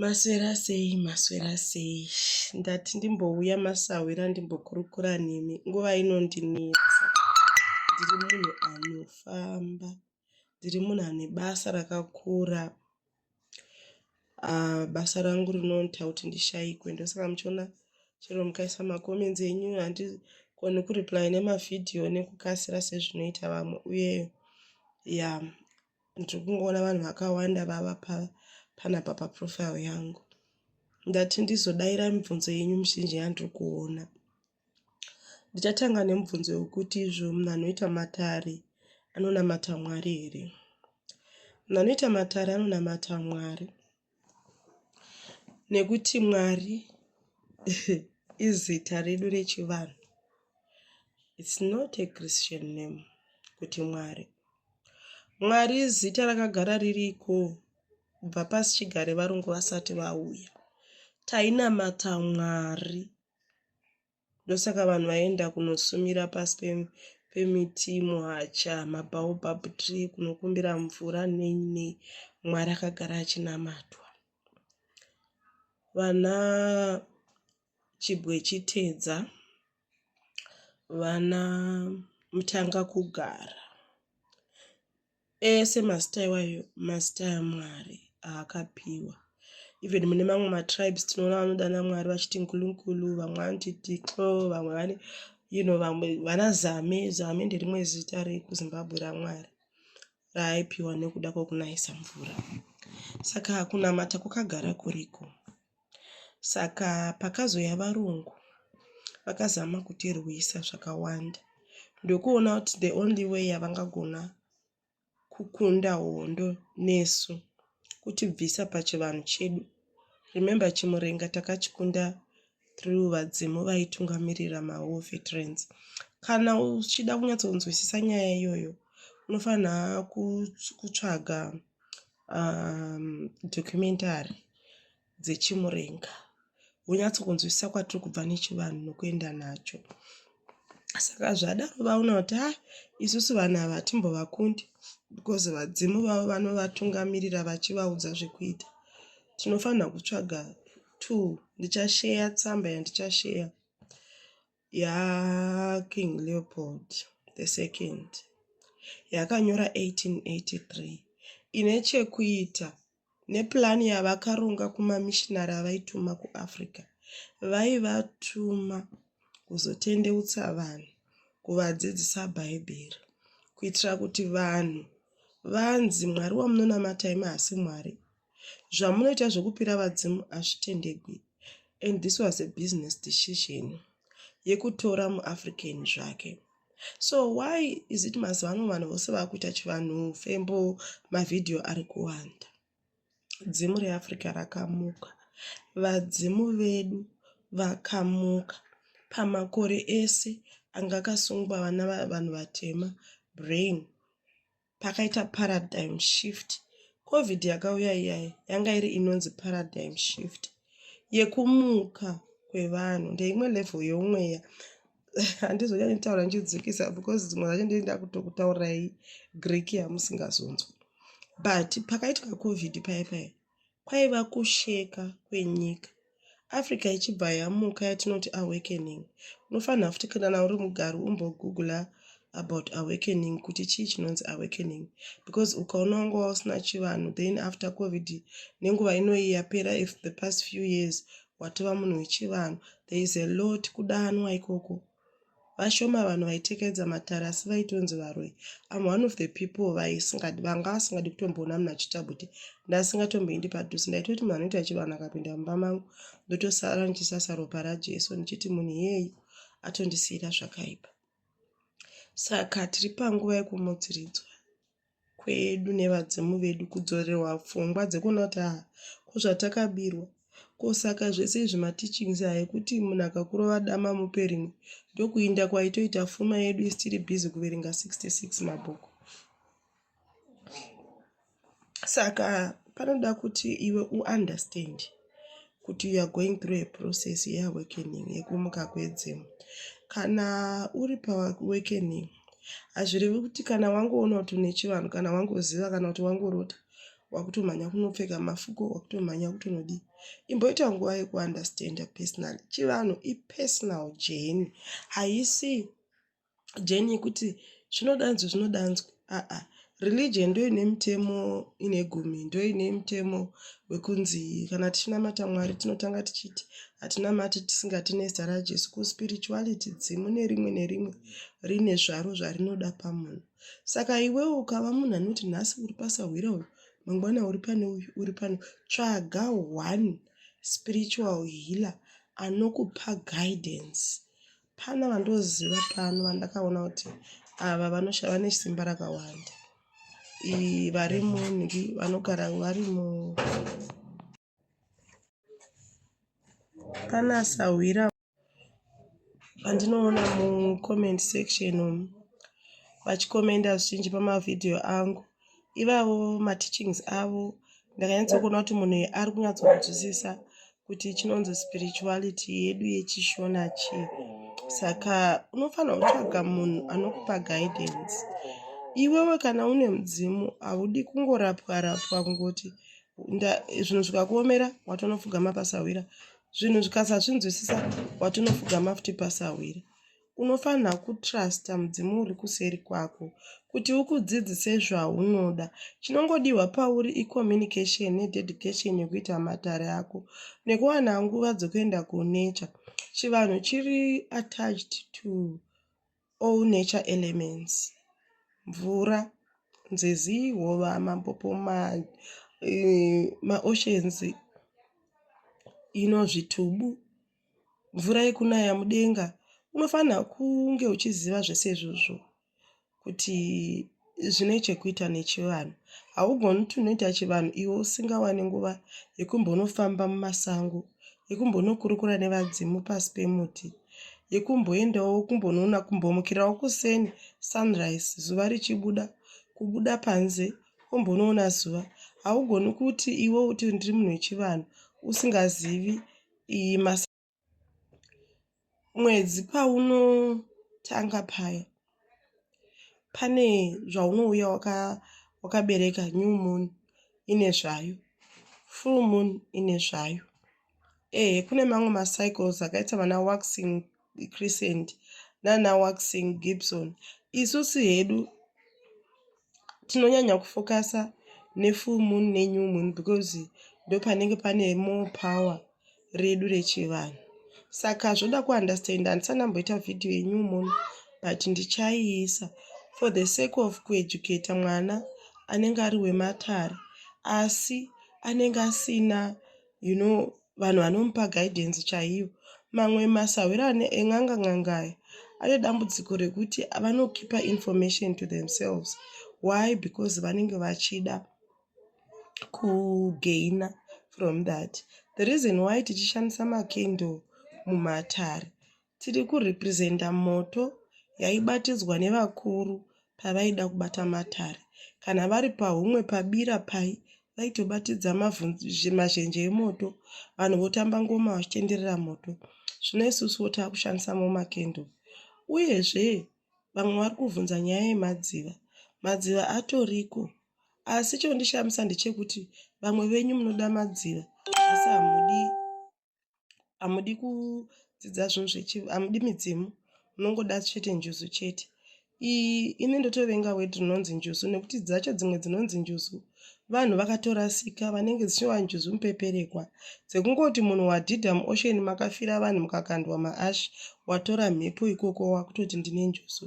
Maswera sei maswera sei ndati ndimbouya masahwira ndimbokurukura nemi nguva inondinetsa ndiri munhu anofamba ndiri munhu ane basa rakakura uh, basa rangu rinoita kuti ndishayikwe ndosaka muchiona chero mukaisa macomments enyu handigoni kureply nemavhidhiyo nekukasira sezvinoita vamwe uye ya yeah. ndiri kungoona vanhu vakawanda vava panapa paprofile yangu ndati ndizodaira mibvunzo yenyu mizhinji yandiri kuona ndichatanga nemubvunzo wekuti izvo munhu anoita matare anonamata mwari here munhu anoita matare anonamata mwari nekuti mwari izita redu rechivanhu its not a christian name kuti mwari mwari izita rakagara ririko kubva pasi chigare varungu vasati vauya tainamata mwari ndosaka vanhu vaienda kunosumira pasi pemiti muhacha mabaobab tree kunokumbira mvura nei nei mwari akagara achinamatwa vana chibwe chitedza vana mutanga kugara Ese mazita iwayo mazita aMwari aakapiwa. Even mune mamwe matribes tinoona vanodana Mwari vachiti nkulunkulu, vamwe vanoti tixo, vamwe vane you know vamwe vana zame. Zame nderimwe zita rekuZimbabwe raMwari raaipiwa nekuda kwekunayisa mvura. Saka kunamata kwakagara kuriko. Saka pakazouya varungu vakazama kutirwisa zvakawanda ndokuona kuti the only way yavangagona kukunda hondo nesu kutibvisa pachivanhu chedu remember chimurenga takachikunda through vadzimu vaitungamirira mawar veterans kana uchida kunyatsokunzwisisa nyaya iyoyo unofanira kutsvaga um, documentary dzechimurenga wonyatsokunzwisisa kwatiri kubva nechivanhu nokuenda nacho saka zvadaro vaona kuti ha ah, isusu vanhu ava hatimbovakundi because vadzimu vavo vanovatungamirira vachivaudza zvekuita tinofanira kutsvaga two ndichasheya tsamba yandichasheya yaking leopold the second yakanyora 1883 ine chekuita nepurani yavakaronga kumamishinari avaituma kuafrica vaivatuma kuzotendeutsa vanhu kuvadzidzisa bhaibheri kuitira kuti vanhu vanzi mwari wamunonamatai maasi mwari zvamunoita zvekupira vadzimu hazvitendegwi and this was a business decision yekutora muafrican zvake so why is it mazuva ano vanhu vose vakuita chivanhu fembo mavhidhiyo ari kuwanda dzimu reafrica rakamuka vadzimu vedu vakamuka pamakore ese anga akasungwa vana vanhu vatema brain pakaita paradigm shift covid yakauya iyayi yanga iri inonzi paradigm shift yekumuka kwevanhu ndeimwe level yeumweya handizonyanya kutaura ndichidzikisa because dzimwe dzacho ndii ndakutokutaurai greek yamusingazonzwa but pakaitwa covid paye paye kwaiva kusheka kwenyika. Africa ichibva yamuka yatinoti awakening. Unofanira futi kana uri mugari umbogoogler about awakening kuti chii chinonzi awakening because ukaona wanga wausina chivanhu then after covid nenguva inoyi yapera if the past few years watova munhu wechivanhu there is a lot kudanwa ikoko Vashoma vanhu vaitekedza matare asi vaitonzi varoyi. I'm one of the people vaisingadi vanga vasingadi kutomboona munhu achiita bute. Ndasingatomboindi padhuze ndaitoti munhu anoita chivanhu akapinda mumba mangu ndotosara ndichisasa ropa raJesu ndichiti munhu iyeyu atondisiyira zvakaipa. Saka tiri panguva yekumudziridzwa. kwedu nevadzimu vedu kudzorerwa pfungwa dzekuona kuti haa ko zvatakabirwa ko saka zvese izvi mateachings aya ekuti munhu akakurova dama mupe rimwe ndokuinda kwaitoita fuma yedu isi tiri busy kuverenga 66 mabhuku saka panoda kuti iwe uunderstand kuti you are going through a process yeawakening yekumuka kwedzimu kana uri paawakening hazvirevi kuti kana wangoona kuti une chivanhu kana wangoziva kana kuti wangorota wakutomhanya kunopfeka mafuko wakutomhanya kutonodii imboita nguva yekuunderstanda personally chivanhu ipersonal jeni haisi jeni yekuti zvinodanzwa zvinodanzwa aa religion ndo ine mutemo ine gumi ndo ine mutemo wekunzi kana tichinamata mwari tinotanga tichiti hatinamati tisingati nezita rajesu kuspirituality dzimu nerimwe nerimwe rine zvaro zvarinoda pamunhu saka iwewo ukava munhu anoti nhasi uri pasahwira uyu mangwana uri pane uyu uri pano tsvaga one spiritual healer anokupa guidance Pana vandoziva pano vandakaona kuti ava vanoshava nesimba rakawanda vari munhi vanogara vari mu pana sahwira vandinoona mucomment section umu vachikomenda zvichinji pamavhidhiyo angu ivavo mateachings avo ndakanyatsokuona kuti munhu ari kunyatsokunzwisisa kuti chinonzi spirituality yedu yechishona chii saka unofanira kutsvaga munhu anokupa guidance iwewe kana une mudzimu haudi kungorapwa rapwa kungoti zvinhu zvikakuomera watonofugama pasahwira zvinhu zvikasazvinzwisisa watonofugama futi pasahwira unofanirwa kutrusta mudzimu uri kuseri kwako kuti ukudzidzise zvaunoda chinongodiwa pauri icommunication nededication yekuita matare ako nekuwana nguva dzokuenda kunature chivanhu chiri attached to all nature elements mvura nzizi hova mampopo maoceans eh, ma ino zvitubu mvura yekunaya mudenga unofanira kunge uchiziva zvese izvozvo kuti zvine chekuita nechivanhu haugoni kuti unoita chivanhu iwe usingawani nguva yekumbonofamba mumasango yekumbonokurukura nevadzimu pasi pemuti yekumboendawo kumbonoona kumbomukirawo kuseni sunrise zuva richibuda kubuda panze kumbonoona zuva haugoni kuti iwe uti ndiri munhu wechivanhu usingazivi iyi mas mwedzi paunotanga paya pane zvaunouya waka wakabereka new moon ine zvayo full moon ine zvayo ehe kune mamwe macycles akaita vana waxing crescent nana waxing gibson isusu hedu tinonyanya kufokasa nefull moon nenew moon because ndopanenge pane more power redu rechivanhu saka zvoda kuunderstanda handisanamboita vhidhiyo yenew moon but ndichaiisa for the sake of kueducata mwana anenge ari wematare asi anenge asina you know vanhu vanomupa guidance chaiyo mamwe masahwiro ane en'anga n'anga aya ane dambudziko rekuti vanokipa information to themselves why because vanenge vachida kugaina from that the reason why tichishandisa macandle mumatare Tiri kurepresenta moto yaibatidzwa nevakuru pavaida kubata matare. Kana vari pahumwe pabira pai vaitobatidza mazhenje emoto vanhu votamba ngoma vachitenderera moto. Zvino isusuwo taakushandisa momakendo. Uyezve vamwe vari kuvhunza nyaya yemadziva. Madziva atoriko asi chondishamisa ndechekuti vamwe venyu munoda madziva asi hamudi hamudi kudzidza zvinhu zvechi hamudi midzimu munongoda chete njuzu chete iyi ini ndotovenga weti rinonzi njuzu nekuti dzacho dzimwe dzinonzi njuzu vanhu vakatorasika vanenge dzichiva njuzu mupeperekwa dzekungoti munhu wadhidha muosheni makafira vanhu mukakandwa maashi watora mhepo ikoko wakutoti ndine njuzu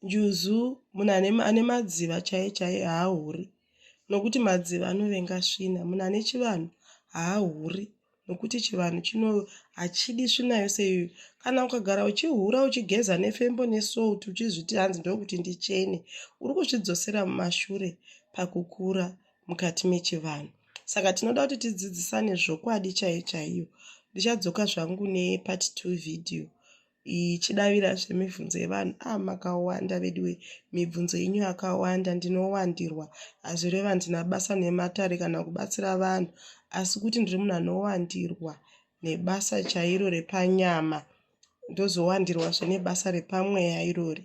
Njuzu munhu ane, ane madziva chaiye chaiye haahuri nokuti madziva anovenga svina. Munhu ane chivanhu haahuri nokuti chivanhu chino hachidi svina yose iyoyo. Kana ukagara uchihura uchigeza nefembo nesalt uchizviti hanzi ndokuti ndichene, uri kuzvidzosera mumashure pakukura mukati mechivanhu. Saka tinoda kuti tidzidzisane zvokwadi chaiyo chaiyo. Ndichadzoka zvangu nepart two video. ichidavira zvemibvunzo yevanhu ah makawanda veduwe mibvunzo yenyu yakawanda ndinowandirwa hazvireva handina basa nematare kana kubatsira vanhu asi kuti ndiri munhu anowandirwa nebasa chairo repanyama ndozowandirwa zvenebasa repamweya irori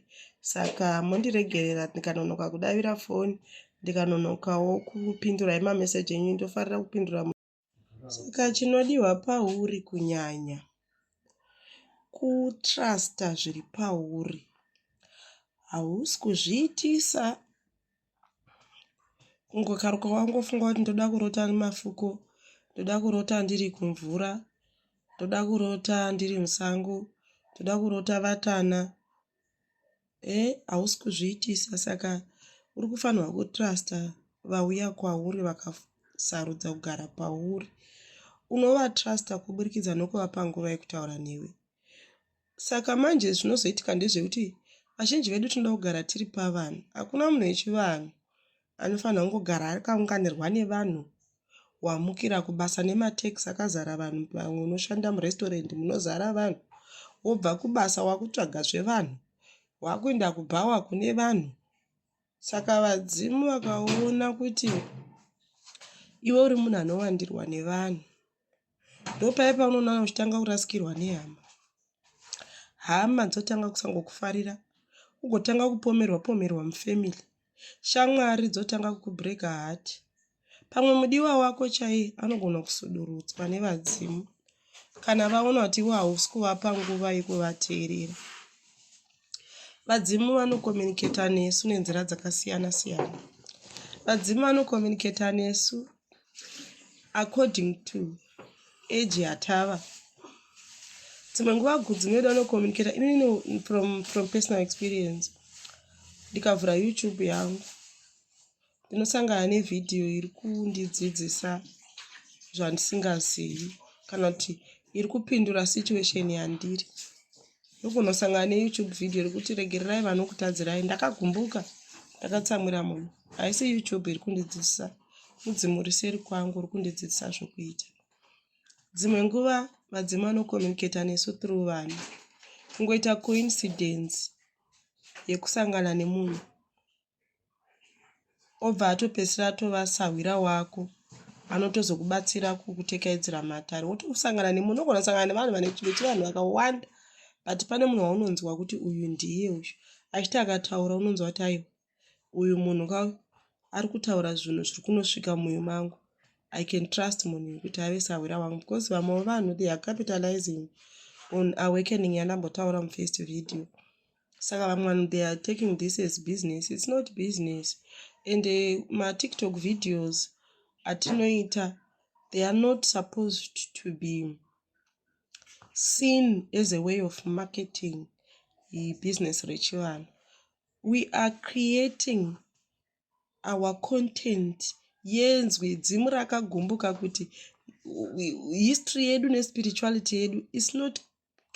saka mondiregerera ndikanonoka kudavira foni ndikanonokawo kupindura emameseji enyu ndofarira kupindura Saka chinodiwa pauri kunyanya kutrusta zviri pauri. Hausi kuzviitisa kungokaruka wangofunga kuti ndoda kurota nemafuko, ndoda kurota ndiri kumvura, ndoda kurota ndiri musango, ndoda kurota vatana. eh hausi kuzviitisa saka uri kufanirwa kutrusta vauya kwauri vakasarudza kugara pauri unovatrusta kuburikidza nokuvapa nguva yekutaura newe saka manje zvinozoitika ndezvekuti vazhinji vedu tinoda kugara tiri pavanhu hakuna munhu wechivanhu Anofanirwa kungogara akaunganirwa nevanhu wamukira kubasa nematax akazara vanhu pamwe unoshanda murestaurant munozara vanhu wobva kubasa wakutsvaga zvevanhu wakuenda kubhawa kune vanhu saka vadzimu vakaona kuti iwe uri munhu anowandirwa nevanhu ndopaye paunoona uchitanga kurasikirwa nehama hama dzotanga kusangokufarira ugotanga kupomerwa pomerwa mufamily shamwari dzotanga kukubreka hati pamwe mudiwa wako chaiye anogona kusudurutswa nevadzimu kana vaona kuti iwe hausi kuvapa nguva yekuvateerera vadzimu vanokomuniketa nesu nenzira dzakasiyana siyana vadzimu vanokomuniketa nesu according to age yatava dzimwe nguva dzimwe vedu vanokomuniketa inini from, from personal experience ndikavhura youtube yangu ndinosangana nevhidhiyo iri kundidzidzisa zvandisingazivi kana kuti iri kupindura situation yandiri ndokunosangana neyoutube vhidhiyo rekuti regererai vanokutadzirai ndakagumbuka ndakatsamwira munhu haisi youtube iri kundidzidzisa mudzimu riseri kwangu uri kundidzidzisa zvokuita dzimwe nguva vadzimu vanokomunicata nesu through vanhu kungoita coincidence yekusangana nemunhu obva atopedzisira atova sahwira wako anotozokubatsira kukutekaidzira matare wotosangana nemunhu unogona kusangana nevanhu vane chimwe chevanhu vakawanda but pane munhu waunonzwa kuti uyu ndiye uyu achiti akataura unonzwa kuti aiwa uyu munhu ka ari kutaura zvinhu zviri kunosvika muyo mangu i can trust munhu uyu kuti ave sahwira wangu because vamwewo vanhu they are capitalizing on awakening yandambotaura mufirst video saka vamwe vanhu they are taking this as business its not business and uh, eh, matiktok videos atinoita they are not supposed to be seen as a way of marketing ibusiness rechivanhu we are creating our content yenzwi dzimu rakagumbuka kuti history yedu nespirituality yedu is not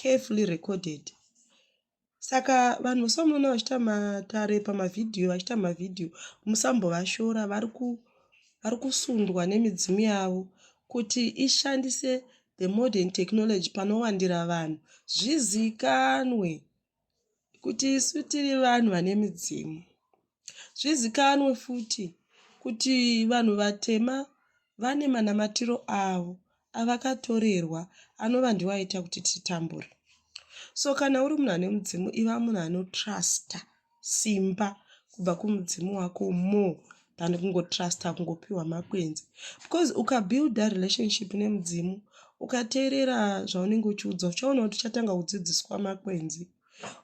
carefully recorded saka vanhu somuona vachiita matare pamavhidhiyo vachiita mavhidhiyo musambovashora vari vari kusundwa nemidzimu yavo kuti ishandise the modern technology panowandira vanhu zvizikanwe kuti isu tiri vanhu vane midzimu. Zvizikanwe futi kuti vanhu vatema vane manamatiro avo avakatorerwa anova ndiwo aita kuti titambure. So kana uri munhu ane mudzimu iva munhu anotrusta simba kubva kumudzimu wako more than kungotrusta kungopiwa makwenzi because ukabuilda relationship nemudzimu ukateerera zvaunenge uchiudza uchaona kuti uchatanga kudzidziswa makwenzi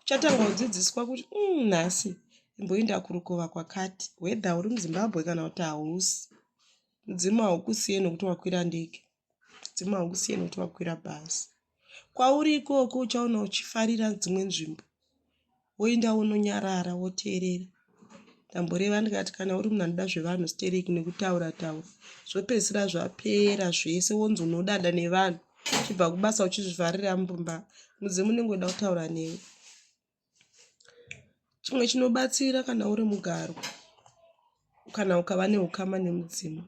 uchatanga kudzidziswa kuti mm, nhasi imboinda kurukova kwakati whether uri muzimbabwe kana kuti hausi mudzimu haukusiye nokuti wakwira ndege mudzimu haukusiye nokuti wakwira bhazi Kwauri ikoko uchaona uchifarira dzimwe nzvimbo woinda wononyarara woteerera. Ndamboreva ndikati kana uri munhu anoda zvevanhu stereki nekutaura taura zvopedzisira zvapera zvese wonzi unodada nevanhu chibva kubasa uchizvifarira mumba mudzimu unenge uda kutaura newe. Chimwe chinobatsira kana uri mugaro kana ukava neukama nemudzimu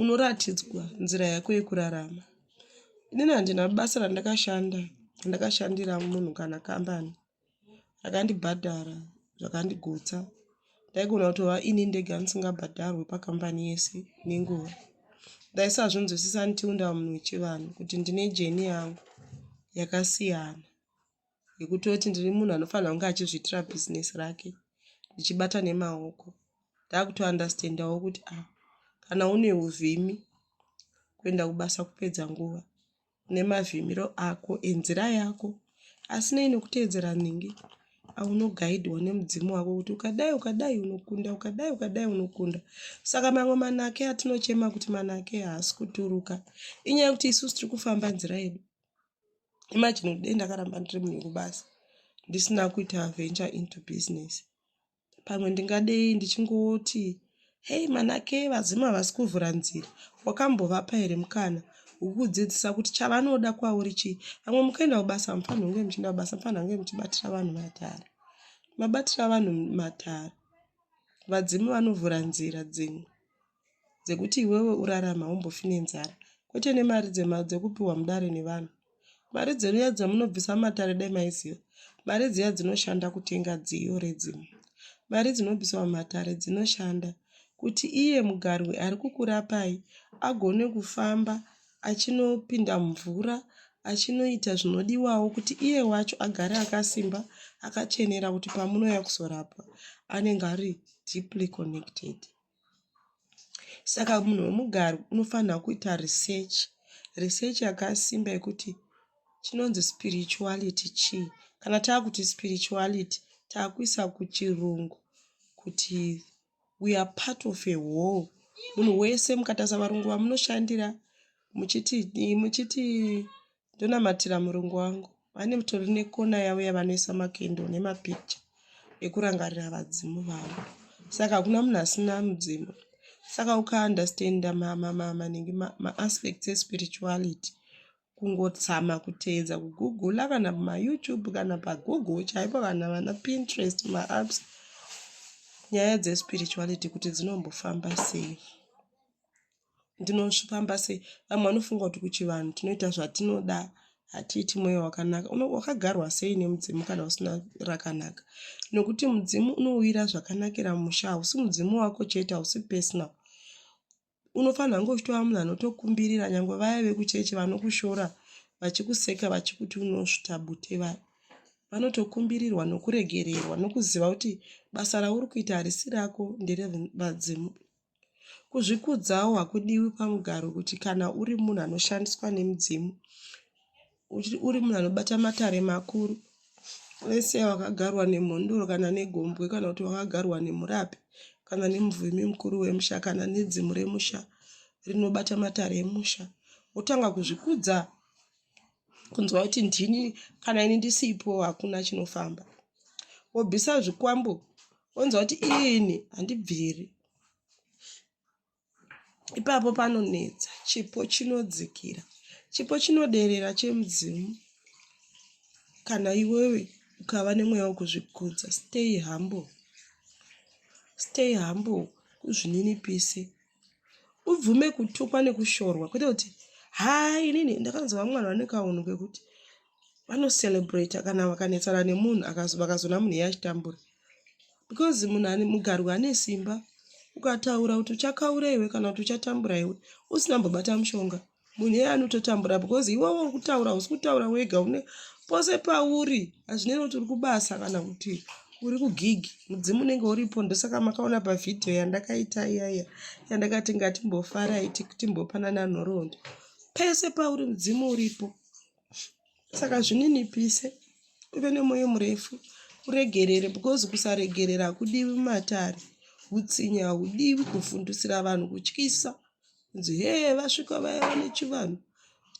unoratidzwa nzira yako yekurarama inini handina basa randakashanda ndakashandira munhu kana kambani rakandibhadhara zvakandigutsa ndaigona kutova ini ndega ndisingabhadharwe pakambani yese nenguva ndaisazvinzwisisa until ndava munhu wechivanhu kuti ndine jeni yangu yakasiyana yekutoti ndiri munhu anofanira kunge achizviitira business rake ndichibata nemaoko ndakutounderstandawo kuti a ah, kana une uvhimi kuenda kubasa kupedza nguva une mavhimiro ako enzira yako asi nei nekuteedzera nhingi aunogaidwa nemudzimu wako kuti ukadai ukadai unokunda ukadai ukadai unokunda saka mamwe manake atinochema kuti manake haasi kuturuka inyaya yekuti isusu tiri kufamba nzira yedu imagine kuti dei ndakaramba ndiri munhu wekubasa ndisina kuita venture into business pamwe ndingadei ndichingoti hei manake vadzimu havasi kuvhura nzira wakambovapa here mukana wekudzidzisa kuti chavanoda kwauri chii vamwe mukaenda kubasa mufanhi hunge muchienda kubasa mufanhi hange muchibatira vanhu matare mabatira vanhu matare vadzimu vanovhura nzira dzimwe dzekuti iwewe urarame haumbofi nenzara kwete nemari dzema dzekupiwa mudare nevanhu mari dzeruya dzamunobvisa matare dai maiziva mari dziya dzinoshanda kutenga dziyo redzimu mari dzinobviswa mumatare dzinoshanda kuti iye mugarwi ari kukurapai agone kufamba achinopinda mvura achinoita zvinodiwawo kuti iye wacho agare akasimba akachenera kuti pamunouya kuzorapwa anenge ari deeply connected saka munhu wemugari unofanirwa kuita research research yakasimba yekuti chinonzi spirituality chii kana taakuti spirituality taakuisa kuchirungu kuti we are part of a whole munhu wese mukatarisa varungu vamunoshandira muchiti muchiti ndonamatira murungu wangu vane mutori nekona yavo yavanoisa makendo nemapicture ekurangarira vadzimu vavo saka hakuna munhu asina mudzimu saka ukaunderstanda maningi maaspects espirituality kungotsama kuteedza kugugula kana pamayoutube kana pagoogle chaipo kana vana pinterest maapps nyaya dzespirituality kuti dzinombofamba sei ndinofamba sei vamwe vanofunga kuti kuchivanhu tinoita zvatinoda hatiiti mweya wakanaka wakagarwa sei nemudzimu kana usina rakanaka nokuti mudzimu unouyira zvakanakira musha hausi mudzimu wako chete hausi personal unofanira kunge uchitova munhu anotokumbirira nyange vaya vekuchechi vanokushora vachikuseka vachikuti unosvita bute vaya vanotokumbirirwa nokuregererwa nokuziva kuti basa rauri kuita harisi rako nderevadzimu Kuzvikudzawo hakudiwi pamugaro kuti kana uri munhu anoshandiswa nemudzimu, uri munhu anobata matare makuru, vese vakagarwa nemhondoro kana negombwe kana kuti vakagarwa nemurapi kana nemuvhimi mukuru wemusha kana nedzimu remusha rinobata matare emusha, wotanga kuzvikudza kunzwa kuti ndini kana ini ndisipo hakuna chinofamba wobvisa zvikwambo wonzwa kuti ini handibviri ipapo panonetsa chipo chinodzikira chipo chinoderera chemudzimu kana iwewe ukava nemweya wekuzvikudza stay humble stay humble kuzvininipise ubvume kutukwa nekushorwa kwete kuti haa inini ndakanzwa vamwe vanhu vane kaunhu kekuti vanocelebrata kana vakanetsana nemunhu vakazoona munhu iye achitambura because munhu ane mugarwi ane simba ukataura kuti uchakaura iwe kana kuti uchatambura iwe usina mbobata mushonga munhu iye anototambura because iwewe uri kutaura usi kutaura wega une pose pauri hazvinei kuti uri kubasa kana kuti uri kugigi mudzimu unenge uripo ndosaka makaona pavhidhiyo yandakaita iyaya yandakati ngatimbofarai timbopanana nhoroondo pese pauri mudzimu uripo saka zvininipise uve nemwoyo murefu uregerere because kusaregerera hakudivi mumatare utsinye haudivi kuvhundusira vanhu kutyisa Kunzi hee vasvika vaya vane chivanhu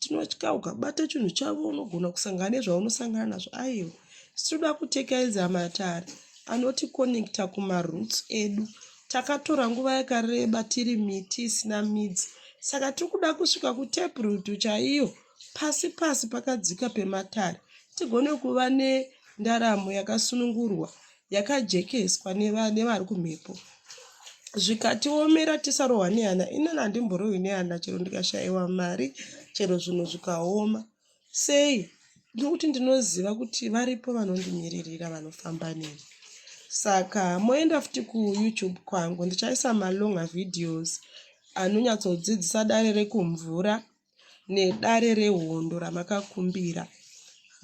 tinotya ukabata chinhu chavo unogona kusangana nezvaunosangana nazvo aiwa sitoda kutekaiza matare anotikonekta kumaroots edu takatora nguva yakareba tiri miti isina midzi saka tiri kuda kusvika kuteprutu chaiyo pasi pasi pakadzika pematare tigone kuva nendaramo yakasunungurwa yakajekeswa nevari kumhepo zvikatiomera tisarohwa nehana inini handimborohwi nehana chero ndikashaiwa mari chero zvinhu zvikaoma sei nokuti ndinoziva kuti varipo vanondimiririra vanofamba neni saka moenda futi kuyoutube kwangu ndichaisa malonga videos anonyatsodzidzisa dare rekumvura nedare rehondo ramakakumbira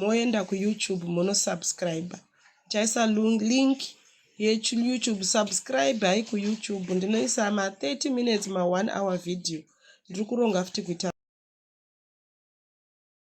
moenda kuyoutube monosubscribe chaisa link yeyoutube subscribe hai kuyoutube ndinoisa ma30 minutes ma1 hour video ndiri kuronga futi kuita